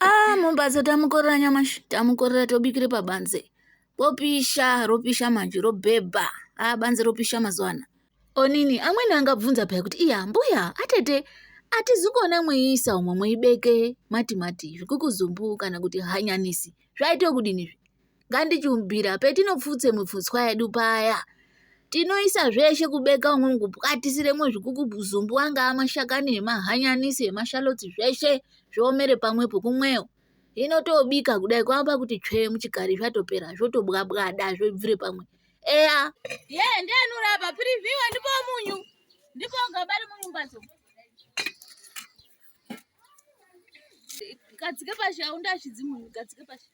ah mumbatso tamukorera nyamashi tamukorera tobikire pabanze popisha ropisha manje robhebha ah banze ropisha mazuva ana onini amweni angabvunza paya kuti iya mbuya atete atizikona mweyiisa umwe mweyibeke matimati zvikuku zumbu kana kuti hanyanisi zvaite kudini izvi ngandichiumbira petinopfutse mipfutswa yedu paya tinoisa zveshe kubeka umwe mukupwatisiremo zvikukudzumbu anga amashakani emahanyanisi emashalotsi zveshe zviomere pamwepo kumweyo hino tobika kudai kwamba kuti tsvee muchikari zvatopera zvotobwabwada zvobvire pamwe eya ye ndianorapa privhiwa ndipo munyu ndipo gabari munyu mbatso gadzike pashi aundashidzimunyu gadzike pashi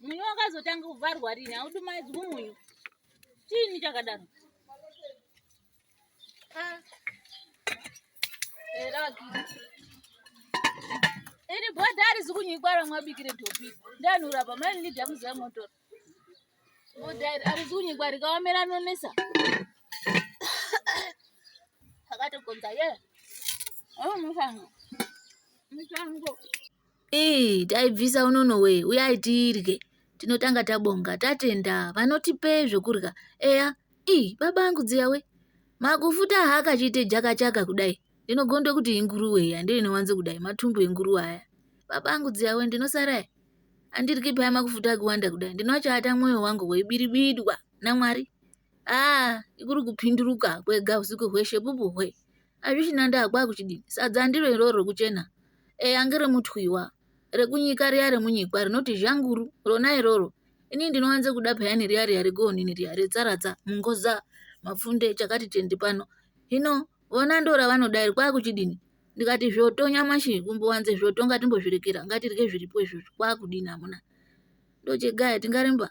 Munyu wakazotanga kuvharwa rini haudumaidzwi munyu. Chini chakadaro? Ah. Eraki. Iri bhodha arizi kunyikwa ramwabikire topi. Ndanura pa mai nidya muziva motor. Bhodha arizi kunyikwa rikaomera nonesa. Akatogonza ye. Oh musango. Musango. Ii taibvisa unono wee uyai tirye. Tinotanga tabonga tatenda vanotipe zvekurya eya ii baba angu dziya we makufuta haakachiite jakachaka kudai ndinogonda kuti inguruwe iya ndiyo inowanzo kudai matumbu enguruwe aya baba angu dziya we ndinosara andiryi paya makufuta akuwanda kudai ndinoachaata mwoyo wangu weibiribidwa namwari aa ikuri kupinduruka kwega usiku hweshe pupu hwe Azvichina ndaa kwakuchidii. Sadza ndiro iroro rokuchena. Eya ange remutwiwa. Rekunyika riya remunyikwa rinoti zhanguru. Rona iroro. Inini ndinowanze kuda peyani riya riya regoonini riya retsaratsa, mungoza, mapfunde, chakati tende pano. Hino vona ndora vanoda iri kwakuchidini? Ndikati zvoto nyamashi kumbowanze zvoto ngatimbozvirekera ngatirye zviripo izvozvo kwakudini amuna. Ndochegaya tingaremba.